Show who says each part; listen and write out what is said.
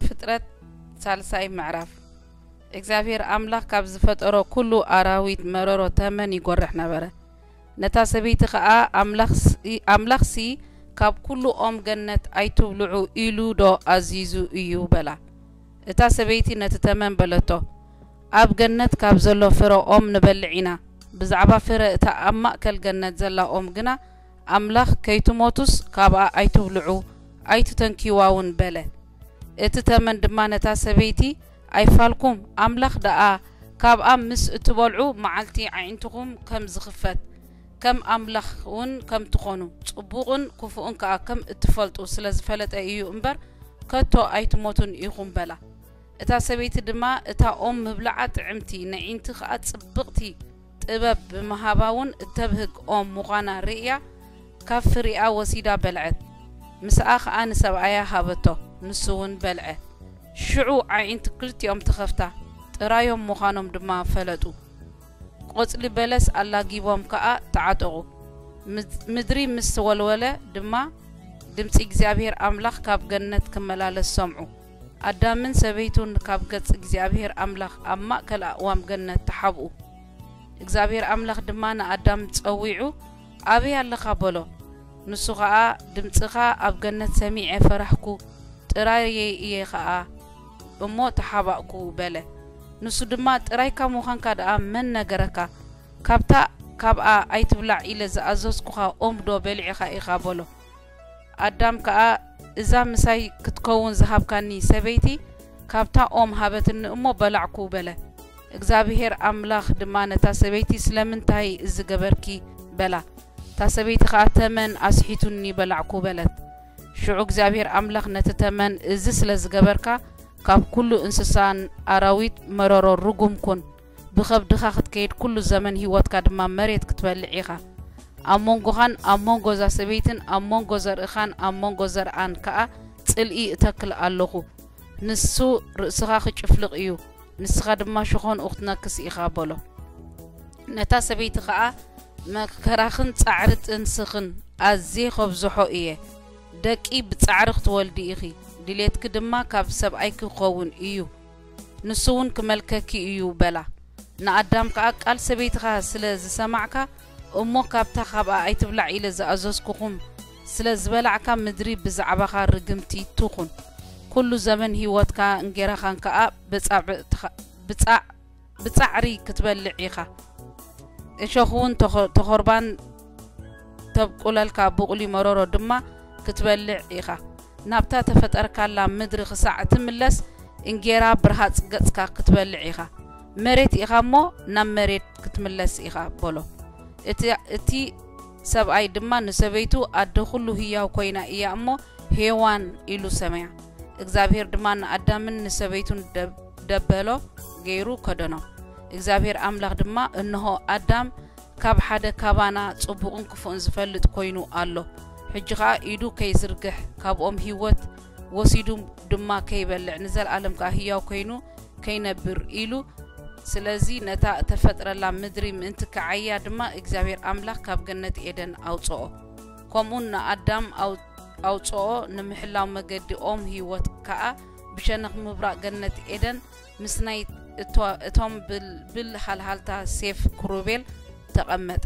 Speaker 1: ፍጥረት ሳልሳይ ምዕራፍ እግዚኣብሔር ኣምላኽ ካብ ዝፈጠሮ ኩሉ ኣራዊት መረሮ ተመን ይጎርሕ ነበረ ነታ ሰበይቲ ኸኣ ኣምላኽሲ ካብ ኩሉ ኦም ገነት ኣይትብልዑ ኢሉ ዶ ኣዚዙ እዩ በላ እታ ሰበይቲ ነቲ ተመን በለቶ ኣብ ገነት ካብ ዘሎ ፍረ ኦም ንበልዕ ኢና፣ ብዛዕባ ፍረ እታ ኣብ ማእከል ገነት ዘላ ኦም ግና፣ ኣምላኽ፣ ከይትሞቱስ ካብኣ ኣይትብልዑ፣ ኣይትተንክይዋውን በለ። እቲ ተመን ድማ ነታ ሰበይቲ፣ ኣይፋልኩም፣ ኣምላኽ ደኣ ካብኣ ምስ እትበልዑ፣ መዓልቲ ኣዒንትኹም ከም ዝኽፈት፣ ከም ኣምላኽውን ከም ትኾኑ፣ ጽቡቕን ክፉእን ከኣ ከም እትፈልጡ ስለ ዝፈለጠ እዩ እምበር፣ ከቶ ኣይትሞቱን ኢኹም በላ። እታ ሰበይቲ ድማ እታ ኦም ምብልዓ ጥዕምቲ ነዒንቲ ኸኣ ጽብቕቲ ጥበብ ብምሃባውን እተብህግ ኦም ምዃና ርእያ ካብ ፍሪኣ ወሲዳ በልዐት። ምሳኣ ኸኣ ንሰብኣያ ሃበቶ፣ ንሱውን በልዐ። ሽዑ ኣዒንቲ ክልቲኦም ተኸፍታ፣ ጥራዮም ምዃኖም ድማ ፈለጡ። ቈጽሊ በለስ ኣላጊቦም ከኣ ተዓጠቑ። ምድሪ ምስ ተወልወለ ድማ ድምጺ እግዚኣብሄር ኣምላኽ ካብ ገነት ክመላለስ ሰምዑ። ኣዳምን ሰበይቱን ካብ ገጽ እግዚኣብሄር ኣምላኽ ኣብ ማእከል ኣእዋም ገነት ተሓብኡ። እግዚኣብሄር ኣምላኽ ድማ ንኣዳም ጸዊዑ ኣበይ ኣለኻ በሎ። ንሱ ኸኣ ድምጽኻ ኣብ ገነት ሰሚዐ ፈራህኩ፣ ጥራየይ እየ ኸኣ እሞ ተሓባእኩ በለ። ንሱ ድማ ጥራይካ ምዃንካ ደኣ መን ነገረካ? ካብታ ካብኣ ኣይትብላዕ ኢለ ዝኣዘዝኩኻ ኦምዶ በሊዕኻ ኢኻ በሎ። ኣዳም ከኣ፣ እዛ ምሳይ ክትከውን ዝሃብካኒ ሰበይቲ፣ ካብታ ኦም ሃበትኒ እሞ በላዕኩ፣ በለ። እግዝኣብሄር ኣምላኽ ድማ ነታ ሰበይቲ፣ ስለምንታይ እዚ ገበርኪ? በላ። እታ ሰበይቲ ኸኣ፣ ተመን ኣስሒቱኒ በላዕኩ፣ በለት። ሽዑ እግዚኣብሄር ኣምላኽ ነቲ ተመን፣ እዚ ስለ ዝገበርካ፣ ካብ ኵሉ እንስሳን ኣራዊት መረሮ ርጉም ኩን፣ ብኸብድኻ ክትከይድ ኩሉ ዘመን ህይወትካ ድማ መሬት ክትበልዕ ኢኻ። ኣብ መንጎኻን ኣብ መንጎ እዛ ሰበይትን ኣብ መንጎ ዘርእኻን ኣብ መንጎ ዘርኣን ከኣ ጽልኢ እተክል ኣሎኹ። ንሱ ርእስኻ ኺጭፍልቕ እዩ፣ ንስኻ ድማ ሸኾንኡ ክትነክስ ኢኻ በሎ። ነታ ሰበይቲ ኸኣ መከራኽን ጻዕሪ ጥንስኽን ኣዝየ ኸብዝሖ እየ፣ ደቂ ብጻዕሪ ክትወልዲ ኢኺ፣ ድሌትኪ ድማ ካብ ሰብኣይኪ ክኸውን እዩ፣ ንሱውን ክመልከኪ እዩ በላ። ንኣዳም ከኣ ቃል ሰበይትኻ ስለ ዝሰማዕካ እሞ ካብታ ኻብኣ ኣይትብላዕ ኢለ ዝኣዘዝኩኹም ስለ ዝበላዕካ ምድሪ ብዛዕባኻ ርግምቲ ትኹን። ኩሉ ዘበን ህይወትካ እንጌራኻን ከኣ ብጻዕ ብጻዕሪ ክትበልዕ ኢኻ እሾኽውን ተኾርባን ተብቁለልካ ቡቑሊ መሮሮ ድማ ክትበልዕ ኢኻ ናብታ ተፈጠርካላ ምድሪ ክሳዕ እትምለስ እንጌራ ብርሃጽ ገጽካ ክትበልዕ ኢኻ መሬት ኢኻ እሞ ናብ መሬት ክትምለስ ኢኻ በሎ እቲ ሰብኣይ ድማ ንሰበይቱ ኣደ ዅሉ ህያው ኰይና እያ እሞ፣ ሄዋን ኢሉ ሰመያ። እግዚኣብሄር ድማ ንኣዳምን ንሰበይቱን ደበሎ ገይሩ ከደኖም። እግዚኣብሄር ኣምላኽ ድማ፣ እንሆ፣ ኣዳም ካብ ሓደ ካባና ጽቡቕን ክፉእን ዚፈልጥ ኰይኑ ኣሎ። ሕጂ ኸኣ ኢዱ ከይዝርግሕ፣ ካብኦም ህይወት፣ ወሲዱ ድማ ከይበልዕ ንዘልኣለም ከኣ ህያው ኮይኑ ከይነብር ኢሉ ስለዚ ነታ እተፈጥረላ ምድሪ ምእንቲ ክዓያ ድማ እግዚኣብሔር ኣምላኽ ካብ ገነት ኤደን ኣውፅኦ ከምኡን ንኣዳም ኣውፅኦ ንምሕላው መገዲ ኦም ህይወት ከኣ ብሸነኽ ምብራቕ ገነት ኤደን ምስ ናይ እቶም ብልብል ሃልሃልታ ሴፍ ክሩቤል ተቐመጠ